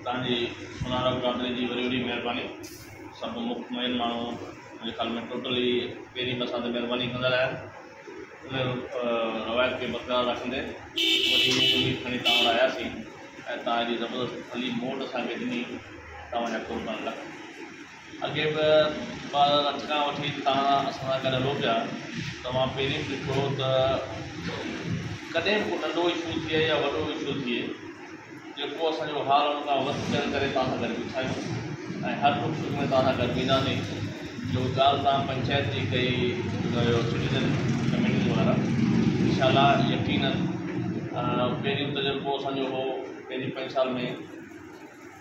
تانجي سونارا برادري جي وڏي وڏي مهرباني سڀ مک مئن ماڻهو منهنجي خيال ۾ ٽوٽلي پهرين به اسان تي مهرباني ڪندا رهيا آهن ان روايت کي برقرار رکندي وڏي مک اميد کڻي تان وٽ آيا سين ۽ تان ايڏي زبردست ڦلي موٽ اسان کي ڏني تان جا قربان لک. اڳي به ٻار اٺ کان وٺي تاڻا اسان سان گڏ هلو پيا ته اوهان پهرين به ڏٺو هو ته ڪڏهن به ڪو ننڍو اشو ٿئي يا وڏو اشو ٿئي جيڪو اسان جو حال ان کان وڌ چڙ ڪري توهان سان گڏ بيٺا آهيون ۽ هر ڏک سک ۾ توهان سان گڏ وينداسين جو ڳالهه توهان پنچائت جي ڪئي جو سٽيزن ڪميٽي وارا انشاءالله يقينن پهريون تجربو اسان جو هو پهرين پنج سال ۾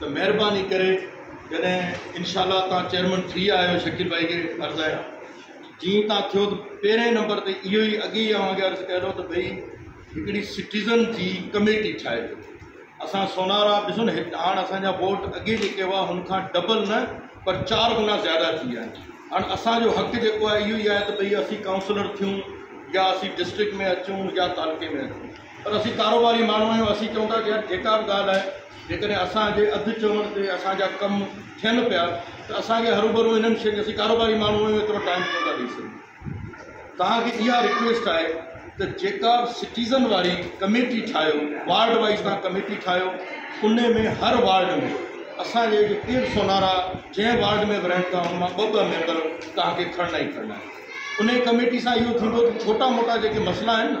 ته مهرباني ڪري جڏهن انشاء الله توهان چيئرمن ٿي آيا آهيو شڪيل ڀائي کي عرض آهي جي توهان ٿيو ته پهرين نمبر تي اهو ئي اڳي ئي اوهان کي عرض ڪيو ته ڀئي هڪڙي سٽيزن جي ڪميٽي ٺاهي ڏيو اسان سونارا ڏسو نه هاڻ اسان جا ووٽ اڳي جيڪي هئا هن کان ڊبل نه پر چار گنا زياده ٿي ويا آهن هاڻ اسان جو حق جيڪو آهي اهو ئي آهي ته ڀئي اسين ڪائونسلر ٿيون يا اسين ڊسٽرڪٽ ۾ اچون يا تعلقي ۾ اچون پر اسين ڪاروباري ماڻهو آهيون اسين چئون ٿا يار جيڪا به ڳالهه آهي جيڪڏهن اسان جي اڌ چوڻ تي اسان جا ڪم ٿين پيا ته اسان کي هروڀرو انهن شين اسين ڪاروباري ماڻهو آهيون ايترو ٽائيم ڪو نه ٿا ڏئي سگهون توهان کي اها رڪويسٽ آهي ته جيڪا به سٽيزن واري ڪميٽي ٺاهيو وارڊ وائيز توهان ڪميٽي ٺاهيو ان ۾ هر وارڊ ۾ اسان جي جو پير سونارا جنهن وارڊ ۾ به رهن ٿا ان مان ٻه ٻه ميمبر توهان کي کڻڻا ئي کڻڻا آهن ان ڪميٽي سان اهو ٿيندو ته ڇوٽا موٽا جيڪي مسئلا آهن نه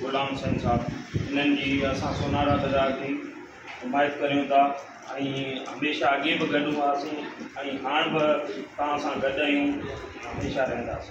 غلام حسين صاحب انهن جي اسان سونهارا بزار جي حمايت ڪريون ٿا ۽ هميشه اڳي به گڏ هئاسين ۽ هاڻ به توهان سان گڏ آهيون هميشه رهنداسين.